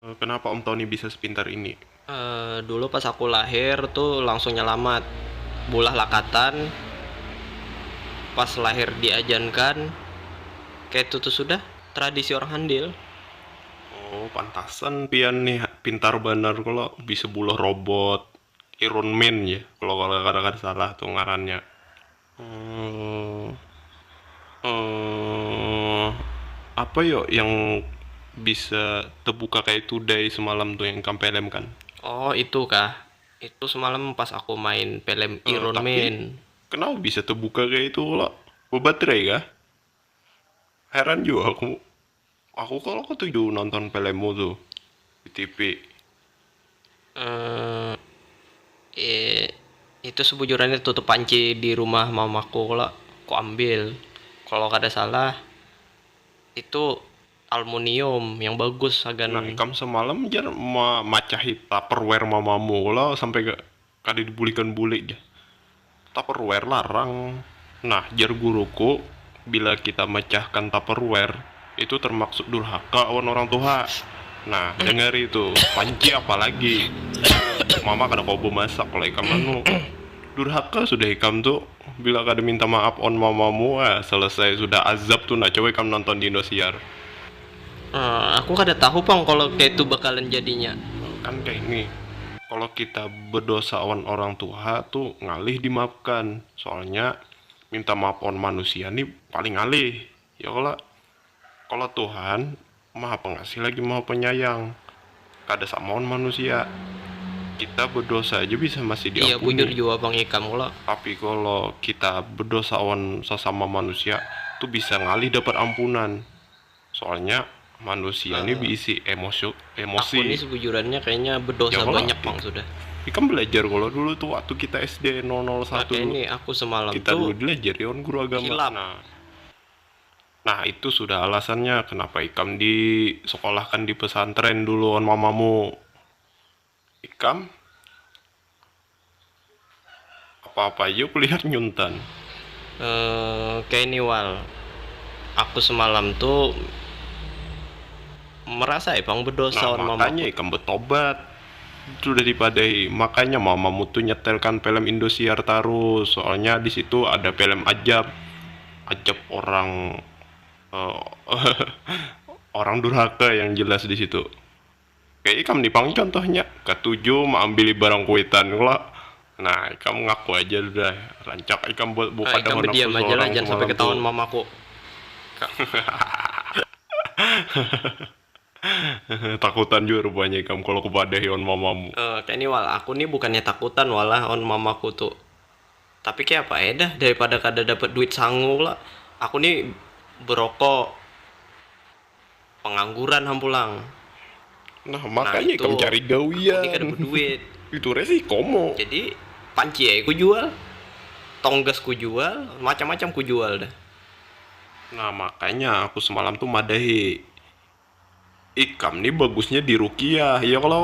Kenapa Om Tony bisa sepintar ini? Uh, dulu pas aku lahir tuh langsung nyelamat. Bulah lakatan, pas lahir diajankan, kayak itu tuh sudah tradisi orang handil. Oh, pantasan pian nih pintar banar kalau bisa bulah robot Iron Man ya. Kalau kalau kadang salah tuh ngarannya. apa yo yang bisa tebuka kayak itu dai semalam tuh yang ikam pelem kan? Oh itu kah, itu semalam pas aku main pelem Iron Man. Tapi kenapa bisa tebuka kayak itu pula? Bebaterai kah? Heran jua aku. Aku kalo ketuju nonton pelemu tu di tipi. Emm itu sebujurannya tutup panci di rumah mamaku kalo ku ambil kalo kada salah itu almunium yang bagus hagan. Nah ikam semalam jar memacahi tupperware mamamu kalo sampai Kada dibulikan bulik jar. Tupperware larang. Nah, jar guruku, bila kita mecahkan Tupperware, itu termaksud durhaka awan orang tuha. Nah, dangari tu, panci apa lagi. Mama kada kawa bemasak kalau ikam anu. Durhaka sudah ikam tu, bila kada minta maaf awan mamamu, ah, selesai sudah azab tu nah, coba ikam nonton di Indosiar. Uh, aku kada tahu pang kalau kaitu bakalan jadinya. Kan kaini, kalau kita bedosa awan orang tuha tu ngalih dimaafkan, soalnya minta maaf awan manusia ni paling ngalih, ya kala? Kalau Tuhan maha pengasih lagi maha penyayang, kada sama awan manusia, kita bedosa aja bisa masih diampuni. Iya bujur jua pang ikam kala. Tapi kalau kita bedosa awan sasama manusia tu bisa ngalih dapat ampunan. Soalnya manusia ini diisi emosi emosi. Aku ini sebujurannya kayaknya bedosa ya, banyak mang sudah. Ikam belajar kalau dulu tuh waktu kita SD 001 nah, ini aku semalam kita tuh dulu belajar yon guru agama. Hilang. Nah, nah itu sudah alasannya kenapa ikam di sekolahkan di pesantren dulu on mamamu. Ikam apa apa aja kulihat nyuntan. Emm kaya ni wal, aku semalam tu merasa ai pang bedosa lawan mamaku. Nah makanya ikam betobat sudah dipadai, makanya mamamu tu nyetelkan pelem Indosiar tarus, soalnya disitu ada pelem ajab, ajab orang orang durhaka yang jelas disitu. Kaya ikam ni pang contohnya, katuju maambili barang kuitan kalo. Nah, ikam ngaku aja sudah, rancak ikam buat buah kada handak tu sorang semalam tu. Hahahahahahahahahahahaha Takutan jua rupanya ikam kalo kupadahi awan mamamu. Kaya ni wal, aku ni bukannya takutan wal lah awan mamaku tu. Tapi kayapa ai dah, daripada kada dapat duit sangu kalo, aku ni berokok. pangangguran ham pulang. Nah, makanya ikam cari gawian. Aku ni kada beduit. Itu reh sih komo. Jadi, panci ai ku jual, tonggas ku jual, macam-macam ku jual dah. Nah, makanya aku semalam tu madahi, ikam ni bagusnya di ruqyah, iya kalo?